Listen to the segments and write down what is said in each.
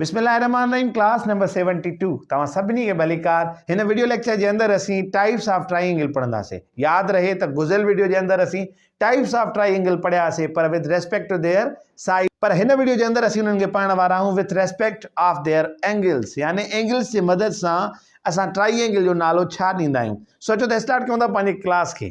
بسم الله الرحمن الرحيم ڪلاس نمبر سيونٽي ٽو توهان سڀني کي ڀليڪار هن وڊيو ليڪچر جي اندر اسين ٽائيپس آف ٽرائي اينگل پڙهنداسين ياد رهي ته گذريل وڊيو جي اندر اسين ٽائيپس آف ٽرائي اينگل پڙهياسين پر with respect to their size پر هن وڊيو جي اندر اسين انهن کي پڙهڻ وارا آهيون with respect of their angles يعني اينگلز جي مدد سان اسان ٽرائي اينگل جو نالو ڇا ڏيندا آهيون سوچو ته اسٽارٽ ڪيون ٿا پنهنجي ڪلاس کي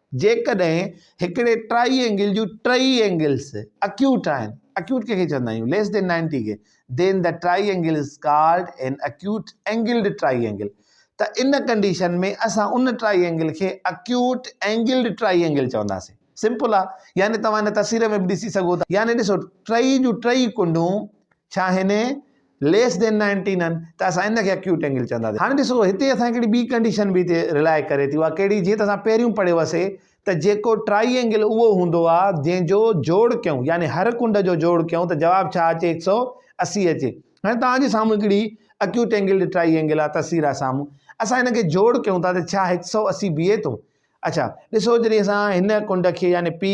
جيڪڏهن هڪڙي ٽرائي اينگل جون ٽئي اينگلز اڪيوٽ آهن، اڪيوٽ ڪنهن کي چوندا آهيون؟ ليس دين نائنٽي کي، then the triangle is called an acute angled triangle. ته ان ڪنڊيشن ۾ اسان ان ٽرائي اينگل کي اڪيوٽ اينگلڊ ٽرائي اينگل چونداسين. سمپل آ. يعني توهان هن تصوير ۾ به ڏسي سگهو ٿا. يعني ڏسو ٽئي جون ٽئي ڪنڊون ڇا آهن؟ ليس دين نائنٽي نن ته اسان ان کي اڪيوٽ اينگل چونداسين هاڻي ڏسو هتي اسان هڪڙي ٻي ڪنڊيشن به هتي رلائي ڪري ٿي اها ڪهڙي جيئن ته اسان پهريون پڙهيو هوسي ته جيڪو ٽرائي اينگل اهو هوندو آ جنهن جو جوڙ ڪيون يعني هر ڪنڊ جو جوڙ ڪيون ته جواب ڇا اچي هڪ سؤ اسي اچي هاڻي توهان جي سامهون هڪڙي اڪيوٽ اينگل ٽرائي اينگل آ تصوير آ سامهون اسان هن کي جوڙ ڪيون ٿا ته ڇا هڪ سؤ اسي بيهي ٿو اڇا ڏسو جڏهن اسان هن ڪنڊ کي يعني P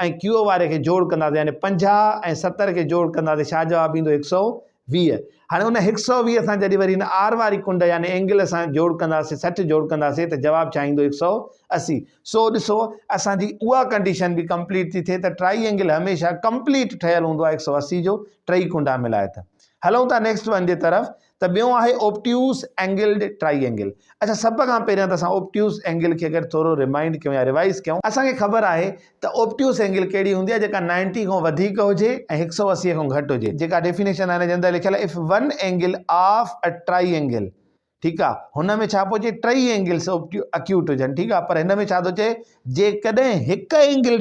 ۽ QO واري کي جوڙ ڪنداسين يعني پنجاهه ۽ ستر کي جوڙ ڪنداسين ڇا جواب ايندو هڪ سؤ ويهه هاڻي ان هڪ سؤ ويهه سان جڏهن وري هن R واري ڪنڊ يعني اينگل سان جوڙ ڪنداسين سٺ جوڙ ڪنداسين ته جواب ڇا ايندو هڪ سؤ اسي سو ڏسو اسان جي اها ڪنڊيشن به ڪمپليٽ ٿي ٿئي ته ٽرائي اينگل هميشه ڪمپليٽ ٺهيل هوندو آهي هڪ سؤ اسي جو ٽئي ڪنڊا ملائي ته هلون ٿا نيڪسٽ ون جي طرف ته ٻيو آهي اوبٽيوز اينگلڊ ٽرائي اينگل. اڇا سڀ کان پهريان ته اسان اوبٽيوز اينگل کي اگر ٿورو رمائنڊ ڪيون يا ريوائيز ڪيون اسان کي خبر آهي ته اوبٽيوز اينگل ڪهڙي هوندي آهي جيڪا نائنٽي کان وڌيڪ هجي ۽ هڪ سؤ اسي کان گهٽ هجي جيڪا ڊيفينيشن آهي نه جنهن اندر لکيل آهي of one angle of a triangle ٺيڪ آهي هن ۾ ڇا پيو چئي ٽئي اينگلس اوبٽيو اڪيوٽ هجن ٺيڪ آهي پر هن ۾ ڇا ٿو چئي جيڪڏهن هڪ اينگل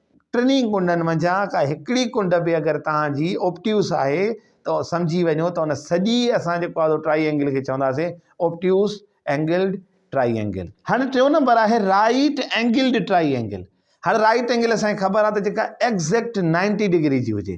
ٽنهي ڪنڊن منجهان ڪا هڪڙي ڪنڊ به اگر توهان جي اوبٽيوس آهي ته سمجهي وڃو ته ان سڄي اسان جيڪو آهي ٽرائي اينگل کي چونداسين اوبٽيوس اينگلڊ ٽرائي اينگل. هاڻي ٽيون نمبر آهي رائيٽ اينگلڊ ٽرائي اينگل. هاڻي رائيٽ اينگل اسان کي خبر آهي ته جيڪا ايگزيڪٽ نائنٽي ڊگري جي هجي.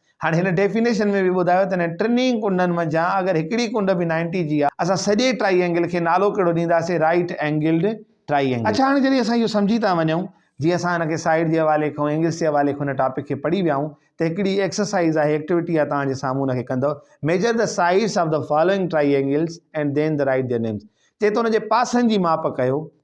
هاڻي هن ڊيفينيشن ۾ به ٻڌايو ته انهن ٽنهي ڪنڊن منجهان اگر هڪڙي ڪنڊ به نائنٽي جي آهي اسان سڄي ٽرائي اينگل کي نالو ڪهڙو ڏينداسين رائيٽ اينگلڊ ٽرائي اينگل. اڇا هاڻي جڏهن اسان اهو سمجهي ٿا وڃون جي اسان هن کي سائيڊ جي حوالي کان اينگلس جي حوالي کان هن ٽاپڪ کي پڙهي ويا آهيون ته هڪڙي ايڪسرسائيز آهي ايڪٽيوٽي آهي توهان جي سامهون ان کي ڪندو measure the sides of the following triangles and then the write their names چئي ٿو ان جي پاسن جي ماپ ڪيو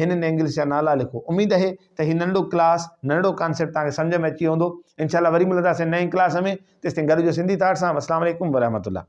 هن نينگلس جا نالا لکو اميد اهي ته هي ننڍو ڪلاس ننڍڙو ڪانسيپٽ توهان کي سمجهه ۾ اچي ويو هوندو انشاء الله وري ملنداسين نئين ڪلاس ۾ تيستائين گڏ هجو سنڌي ٿاٽ سان اسلام عليڪم ورحمة الله